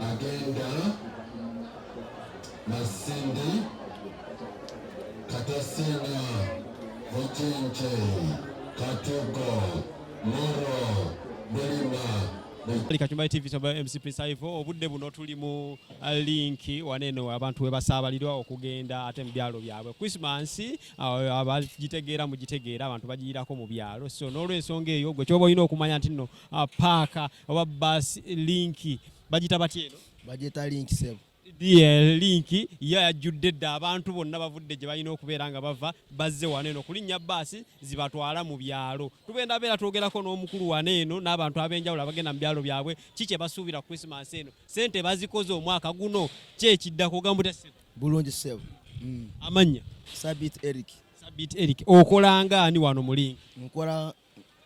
agenda Masindi Katasina Mukinki Katugo Moro Bulima Kachumbari TV kya MC Prince Ivo obudde buno tuli mu uh, linki waneno abantu we basaabalirwa okugenda ate mu byalo byabwe Christmas abagitegeera mugitegeera abantu bagiyirako mu byalo so n'olwensonga eyo gwe kyoba olina okumanya nti nno ah, paaka oba bas linki bagita batya eno bagita linki sebo linki yo yajjudde dda abantu bonna bavudde gye balina okubeera nga bava bazze wano eno kulinnya baasi zibatwala mu byalo tugenda beera twogerako n'omukulu wano eno n'abantu ab'enjawulo abagenda mu byalo byabwe ki kye basuubira ku krisimansi eno sente bazikoze omwaka guno kyekiddako ogambuteseko Bulungi ssebo. Mm. Amannya? Sabit Eric. Sabit Eric. Okola nga ani wano mulinga? Nkola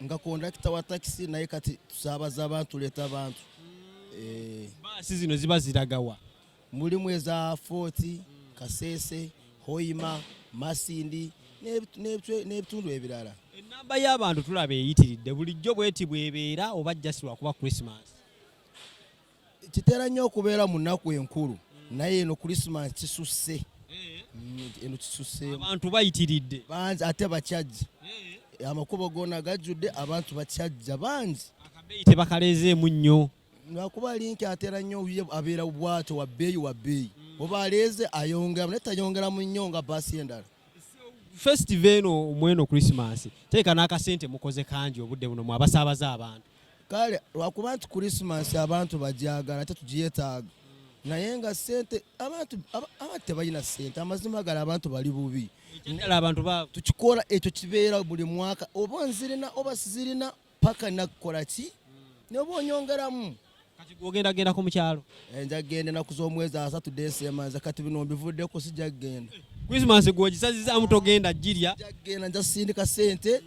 nga kondakita wa takisi naye kati tusaabaza abantu tuleeta abantu. Mm. Eh. Baasi zino ziba ziragawa? Mulimu eza Foti, Kasese, Hoima, Masindi n'ebitundu ebirala. Ennamba y'abantu tulaba eyitiridde bulijjo bweti bwebeera oba jasi lwakuba Christmas? kitera nnyo okubeera mu nnaku enkulu naye eno kulisimansi kisusse mm, eno kisusse abantu bayitiridde bangi ate bakyajja amakubo gona gajjudde abantu bakyajja bangi akabeeyi tebakaleezeemu nnyo lwakuba linki atera nnyo ye abeera bwato wa bbeeyi wa bbeeyi mm. oba aleeze ayongeramu naye tayongeramu nnyo nga baasi endala festive eno mweno christmas teeka n'akasente mukoze kangi obudde buno mwabasaabaza abantu kale lwakuba nti kurisimansi abantu bajagala ate tugiyetaaga naye nga sente abantu abantu tebalina sente amazima gala abantu bali bubi tukikola ekyo kibeera buli mwaka oba nzirina oba sizirina paka nakukola ki noba onyongeramu ogenda gendako mukyalo eh, nja kugenda enaku z'omwezi asatu desema nze kati bino mbivuddeko sijja kugenda eh, christmas gwogisazizamu togenda jirya nja kugenda nja sindika sente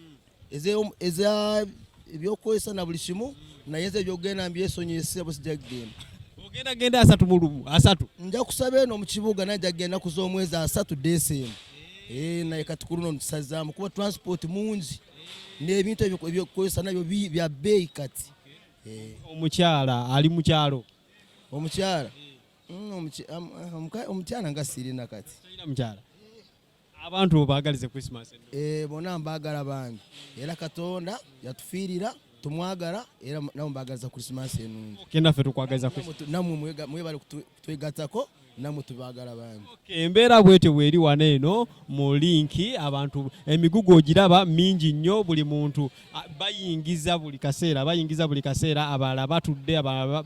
eza ebyokukozesa na buli kimu naye nze ebyokugenda mbyesonyiye sebo sijja kugenda ogenda genda asatu mu lumu asatu nja kusaba eno mu kibuga naye nja kugenda kuza omwezi asatu deesa emu eh, naye kati ku luno ntusazaamu kuba transport mungi n'ebintu ebyokukozesa nabyo bya bbeeyi kati eh. omukyala ali mukyalo omukyala mm, ah, omukyala nga sirina kati mukyala abantu obagalize Christmas eh bona mbagala bangi era katonda yatufiirira tumwagala era namwe mbagaliza Christmas enungi okay nafe tukwagaliza Christmas namwe mwebale kutwegatako namwe tubagala bangi okay embeera bwete weri wana eno mu linki abantu emigugu ogiraba mingi nnyo buli muntu bayingiza buli kaseera bayingiza buli kaseera abalala batudde abalala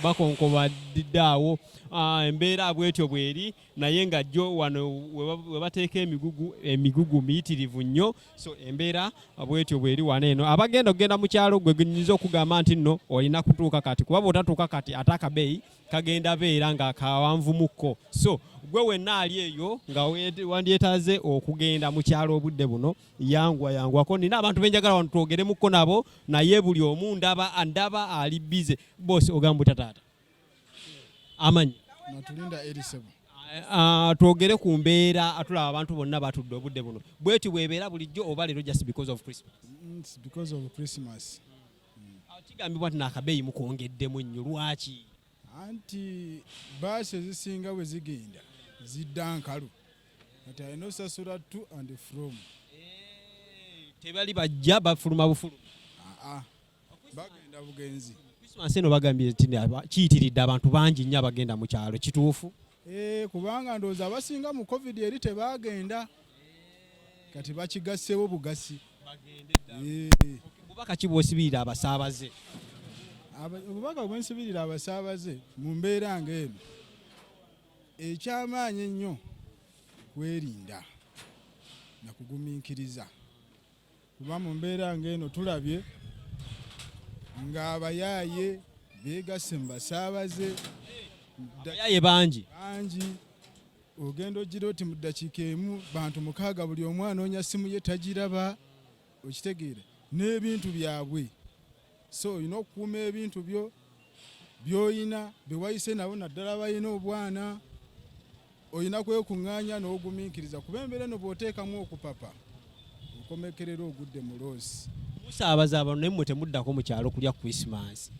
bakonkobadde awo ah, embeera bwetyo bweri naye nga jjo wano we bateeka emigugu emigugu miyitirivu nnyo so embeera bwetyo bweri wano eno abagenda okugenda mu kyalo gwe nyinza okugamba nti nno olina kutuuka kati kuba bwotatuuka kati ate akabeeyi kagenda beera nga kawanvumukko so gwe wenna ali eyo nga wandyetaze okugenda mu kyalo obudde buno yangwa yangwako nina abantu benjagala wano twogeremukko nabo naye buli omu ndaba ndaba ali bize bosi ogamba utataata amanyi natulinda erisebo ah, twogere ku mbeera atulaba abantu bonna batudde obudde buno bweti bwebeera bulijjo oba leero just because of christmas mm, because of christmas ah, kigambibwa nti nakabeeyi mukwongeddemu nnyo lwaki anti baasi ezisinga bwe zigenda zidda nkalu kati alina osasula to and from eh, tebali bajja bafuluma bufuluma ah, bagenda bugenzi Christmas eno bagambye nti kiyitiridde abantu bangi nnyo abagenda mu kyalo kituufu eh, kubanga ndowooza abasinga mu covid eri tebaagenda kati bakigassewo bugasi obubaka eh. ki bwosibirira abasaabaze obubaka bwensibirira abasaabaze mu mbeera nga eno ekyamaanyi ennyo kwerinda nakugumiikiriza kuba mu mbeera ng'eno tulabye ng'abayaaye beegasse mu basaabaze abayaaye bangi bangi ogenda ogira oti mu ddakiika emu bantu mukaaga buli omu anoonya ssimu ye tagiraba okitegeera n'ebintu byabwe so olina okukuuma ebintu byo byoyina bewayise nabo naddala balina obwana olina kwekuŋŋaanya n'ogumiikiriza kuba embeera eno bw'oteekamu okupapa okomekerera ogudde mu loosi musaabaza abantu naye mwe temuddako mu kyalo kulya krisimansi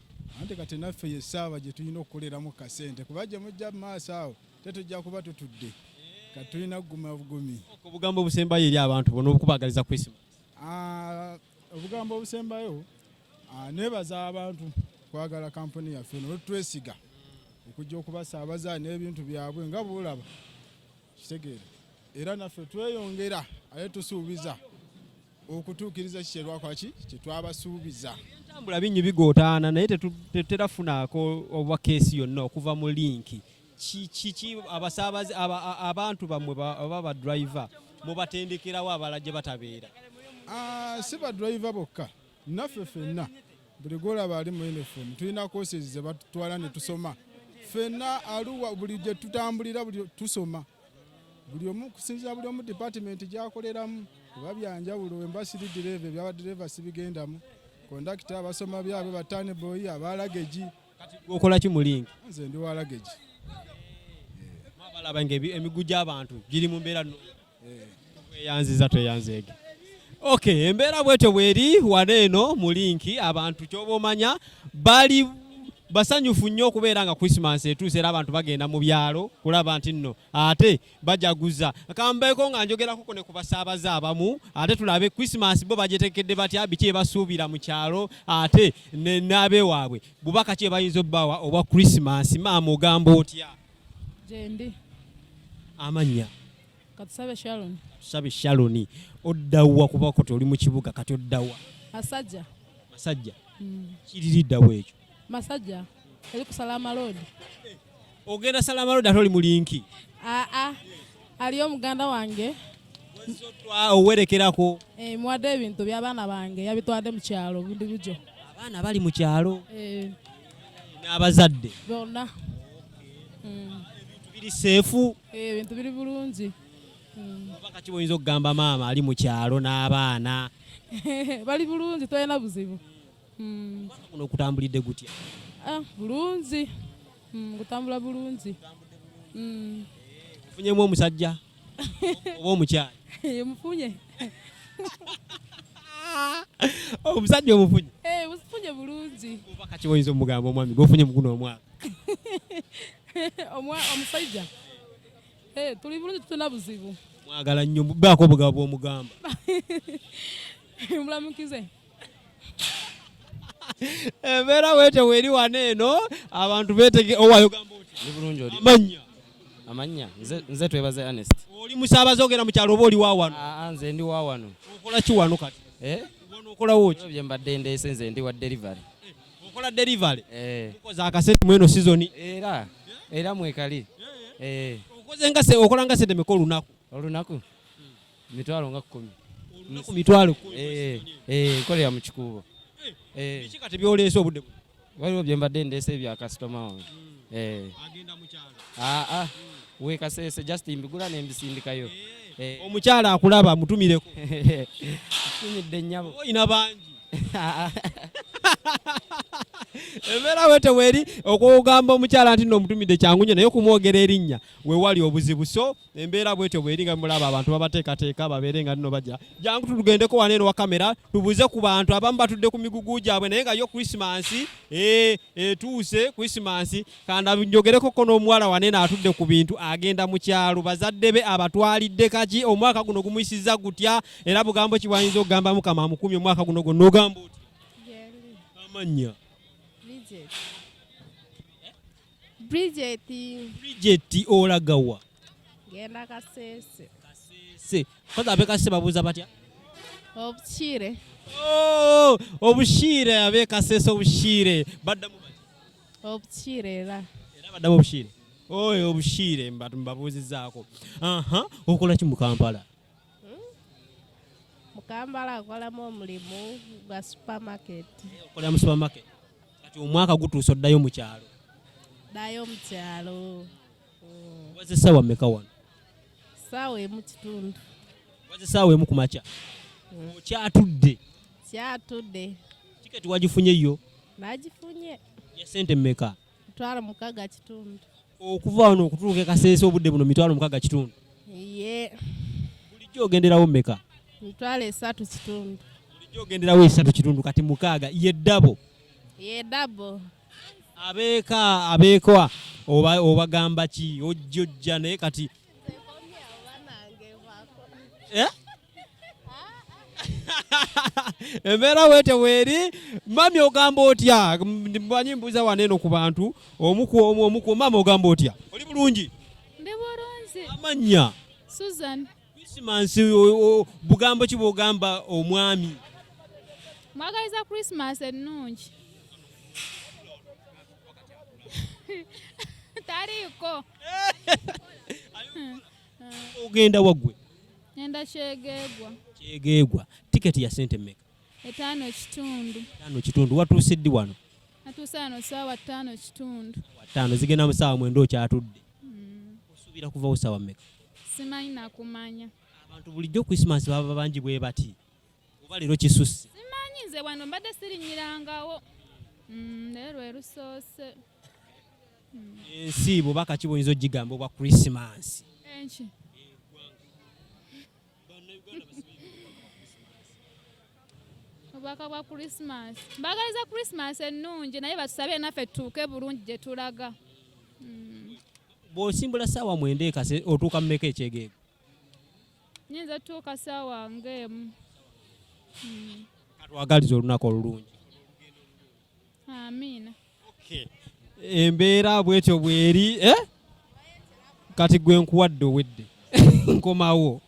ante kati naffe yesaaba gye tulina okukoleramu kasente kuba gye mujja mu maaso awo tetujja kuba tutudde kati tulina kuguma bugumi obugambo obusembayo eri abantu bona okubagaliza krisimansi ah, obugambo obusembayo ah, nebaza abantu kwagala kampuni yaffe nolutwesiga okujja okubasaabaza n'ebintu byabwe nga bulaba kitegeere era naffe tweyongera aye tusuubiza okutuukiriza kikyerwakwaki kyetwabasuubiza entambula bingi bigootaana naye tetera funaako oba keesi yonna okuva mu linki kiki abasaabaze abantu bammwe oba badriver mubatendekerawo abala gye batabeera ah, si badriver bokka naffe fenna buli gwolaba ali mu uniform tulina courses ze batutwala ne tusoma fenna aluwa buli gye tutambulira buli tusoma buli omu kusinzira buli omu department gyakoleramu oba byanjawulo wemba siri direva ebyabadireva sibigendamu kondakita abasoma byabwe batane boyi abalagegi kati okola ki mu link nze ndi wa luggage mwabalaba nga emiggu gy'abantu giri mu mbeera no eh. tweyanziza tweyanzeege ok embeera bwetyo bweri wano eno mu linki abantu kyoba omanya bali basanyufu nnyo okubeera nga christmas etuuse era abantu bagenda mu byalo kulaba nti nno ate bajaguza kambeeko nga njogerako kone ku basaabaze abamu ate tulabe christmas bo bagyetekedde batya biki ebasuubira mu kyalo ate n'abewaabwe bubaka ki ebayinza obbawa obwa christmas maama ogamba otya gyendi amannya katusabe shaloni katusabe shaloni oddawa kuba koti oli mu kibuga kati oddawa masajja masajja mm. kiririddawa ekyo Masajja eri ku Salama Road. Ogenda Salama Road ate oli mu linki? Aa, ah, ah. aliyo muganda wange owerekerako eh, muwadde ebintu by'abaana bange yabitwadde mu kyalo bundi bujo. Abaana bali mu kyalo eh. n'abazadde bonna. Hmm. Ebintu biri seefu? Eh, ebintu biri bulungi. Hmm. Oba kati oyinza okugamba maama ali mu kyalo n'abaana bali bulungi tolina buzibu. hmm. kuno okutambulidde gutya ah, bulungi hmm, kutambula bulungi hmm. ofunyemu omusajja oba omukyala mufunye omusajja omufunye eh, mufunye bulungi oba kati oyinza omugamba omwami gwofunye muguno omwaka omusajja eh, tuli bulungi tutuna buzibu mwagala nnyo baako obugabo bwomugamba mulamukize embeera weete weeri wano eno abantu betege owaayogamba otiamannya amannya nze twebaze anest oli musaabaze ogenda mu kyalo oba oli wawano ah, ah, nze ndi wawano okola ki wano kati eh? okolawo ki bye mbadde ndeese nze ndi wa delivery eh, okola delivery eh. okoze akasente mweno sizoni era era mwekali okoze nga okola nga sente meka olunaku olunaku mitwalo nga kumi olunaku mitwalo eh, eh, nkolera mu kikuubo eh, biki kati byoleese obudde buno waliwo bye mbadde ndeese bya kasitoma wange hmm. agenda mukyalo aa ah, ah. wekaseese just mbigula nembisindikayo omukyala akulaba mutumireko tumidde nyabo oyina bangi embeera wete weri okugamba omukyala nti nomutumidde kyangunyo naye okumwogera erinnya wewali obuzibu so embeera bwetyo bweri nga mulaba abantu babateekateeka babeere nga nino bajja jangu tugendeko wano eno wa kamera tubuuze ku bantu abamu batudde ku migugu gyabwe naye nga yo krisimansi eh, etuuse krisimansi kanda njogereko ko n'omuwala wano eno atudde ku bintu agenda mu kyalo bazadde be abatwalidde kaki omwaka guno gumuyisiza gutya era bugambo ki bwayinza okugamba mukama amukumye omwaka guno gwo nogamba oti amannya Bridget. Bridget olaga wa? Genda Kasese. Kasese. Kwanza abe Kasese babuza batya? Obushire. Oh, obushire abe Kasese obushire. Badda mu bati. Obushire era. Era badda obushire. Oyo obushire mbabuzizaako. Aha, okola ki mu Kampala? Hmm? Mukambala akolamu omulimu gwa supermarket. Okolera mu supermarket. Kati omwaka gutuuse oddayo mu kyalo. Ddayo mu kyalo. Hmm. Waze ssaawa mmeka wano? Ssaawa emu kitundu. Waze ssaawa emu ku makya. Hmm. Okyatudde. Kyatudde. Tiketi wagifunye yo? Nagifunye. Ya sente mmeka? mitwalo mukaga kitundu okuva wano okutuuka ekaseesa obudde buno mitwalo mukaga kitundu ye bulijjo ogenderawo meka mitwalo esatu kitundu bulijjo ogenderawo esatu kitundu kati mukaaga yeddabo yeddabo abeeka abeekwa obagamba ki ojjojja naye kati eh? embeera wete weeri mami ogamba otya manyi mbuuza wano eno ku bantu omuku omu omuku mama ogamba otya oli bulungi ndi bulungi amannya susan krisimansi bugambo ki bwogamba omwami mwagaliza krisimansi ennungi taliiko Eh. Ogenda wagwe? Nenda kyegegwa. Kyegegwa. Ticket ya sente mmeka? Etaano kitundu. Etaano kitundu. Watuuse ddi wano? Natuuse wano saawa ttaano kitundu. Ttaano zigenda mu saawa mwenda okyatudde. Mm. Osuubira kuvawo saawa mmeka? Simanyi nakumanya. Abantu bulijjo Christmas baba bangi bwe bati. Oba leero kisusse. Simanyi nze wano mbadde sirinyirangawo. Mm, leero lwe lusoose. hmm. ensi bwoba kaki boyinza ogigamba obwa krisimansi obubaka bwa krisimansi mbagaliza krisimansi ennungi naye batusabe naffe tutuuke bulungi gye tulaga hmm. bwosimbula saawa mwenda ekase otuuka mumeka ekyegeego nyinza tuuka saawa ngaemu hmm. katwagaliza olunaku olulungi amiina embeera bwetyo bweri eh? kati gwe nkuwadde owedde nkomawo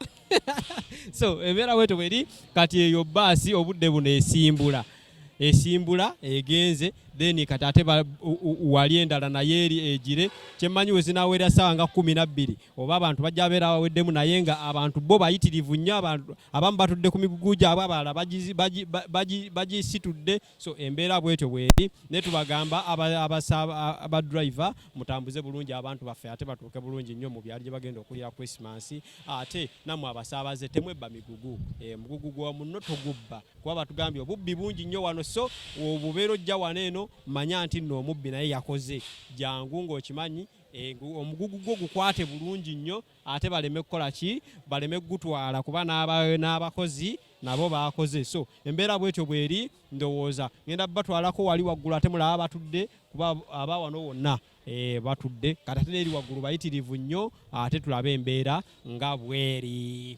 so embeera bwetyo bweri kati eyo baasi obudde buno esimbula esimbula egenze then kati ate wali endala naye eri egire kyemmanyi we zinaawera ssaawa nga kkumi nabbiri oba abantu bajja beera baweddemu naye nga abantu bo bayitirivu nnyo abantu abamu batudde ku migugu gyabwe abalala bagisitudde so embeera bwetyo bweri naye tubagamba abadriver mutambuze bulungi abantu baffe ate batuuke bulungi nnyo mu byalo gye bagenda okulira christmas ate namwe abasaabaze temwebba migugu e, mugugu gwa munno togubba kuba batugambye obubbi bungi nnyo wano so obubeera ojja wano eno manya nti nno omubbi naye yakoze jangu ng'okimanyi e, omugugu gwo gukwate bulungi nnyo ate baleme kukola ki baleme kugutwala kuba n'abakozi nabo baakoze so embeera bwetyo bweri ndowooza ngenda batwalako wali waggulu ate mulaba batudde kuba aba wano wonna eh, batudde kati ate neeri waggulu bayitirivu nnyo ate tulabe embeera nga bweri